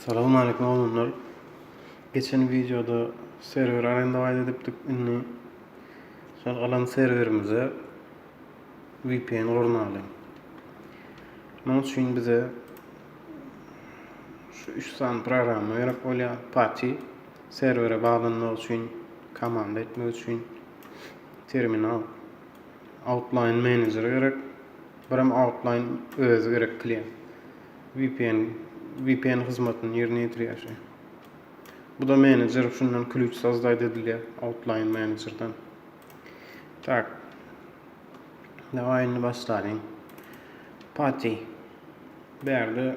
Salam aleyküm oglanlar. Geçen videoda serwer arenda aýt edipdik. Indi şol alan serwerimize VPN gurnaly. Munuň üçin bize şu 3 sany programma gerek bolýar. Pati serwere baglanmak üçin, komanda etmek üçin Terminal. Outline Manager gerek. Birem Outline özi gerek klient. VPN VPN hyzmatyny ýerine ýetirýär şu. Bu da manager şundan klüç sazdaýda edilýär Outline Managerdan. Tak. Dawaý indi başlalyň. Pati. Bärde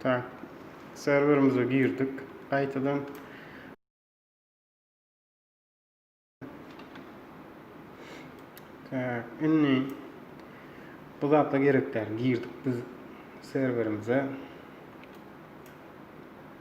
Tak. Serwerimize girdik. Gaýtadan Tak, indi bu zatla gerek däl. Girdik biz serwerimize.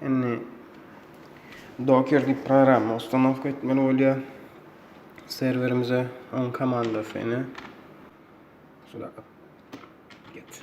Indi Docker diýip programma ustanowka etmeli bolýar. Serwerimize on komandasy ine. Şula geç.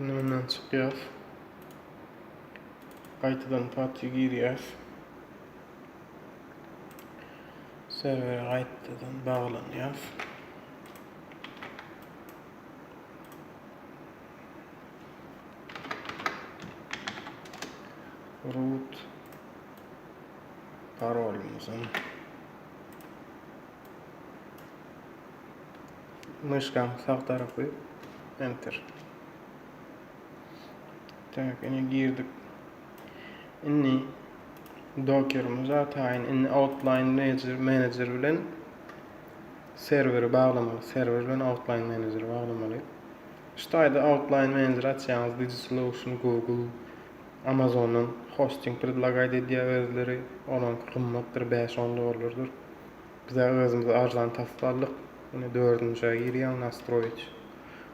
Indi bundan çykýas. Gaýtadan PUBG girýäs. Serwere gaýtadan baglanýas. Root parolymyzam. Myşkaň sag tarapy enter. Tak, indi girdik. Indi dokerimizi ataýyn. Indi outline manager, manager bilen serweri baglamaly. Serwer bilen outline manager baglamaly. Şu taýda outline manager açýaňyz, Digi Solution, Google, Amazondan hosting predlagaýt edýär özleri, olaňky gymmatdyr bäş on dollardyr. Bizä özümiz arzan tapyp aldyk. Ine dördünjä girýäň nastroýit.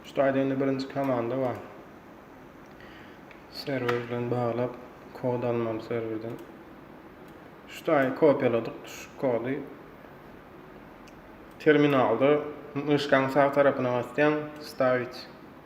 Şu taýda indi birinji komanda bar. Serwer bilen baglap kod almaly serwerden. Şu taýy kopiýaladyk şu kody. Terminalda myşkaň sag tarapyna basýaň stavit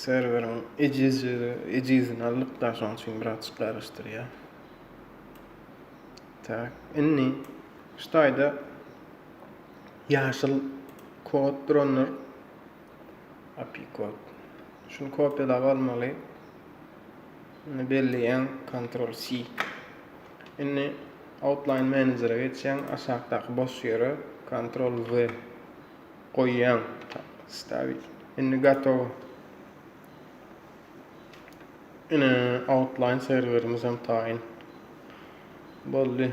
serweriň ejizligi ejizini alyp da şoň üçin birazçyk garaşdyrýar. Tak, indi şu taýda Ýaşyl kod duranlar API kod. Şuny kopýalap almaly. Indi belleýän Ctrl C. Indi Outline Manager-a geçýäň, aşakdaky boş ýere Ctrl V goýýaň. Stavit. Indi gatow. Ine Outline serwerimiz hem taýyn. Boldy.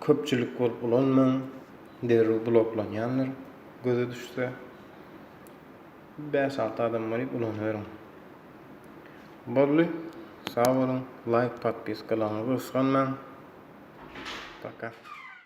köpçülik bolup ulanmaň, derrew bloklanýandyr göze düşse. Bäş alty adam bolyp ulanyberiň. Boldy. Sag boluň. Laýk, podpiskalaryňyzy gysganmaň. Paka.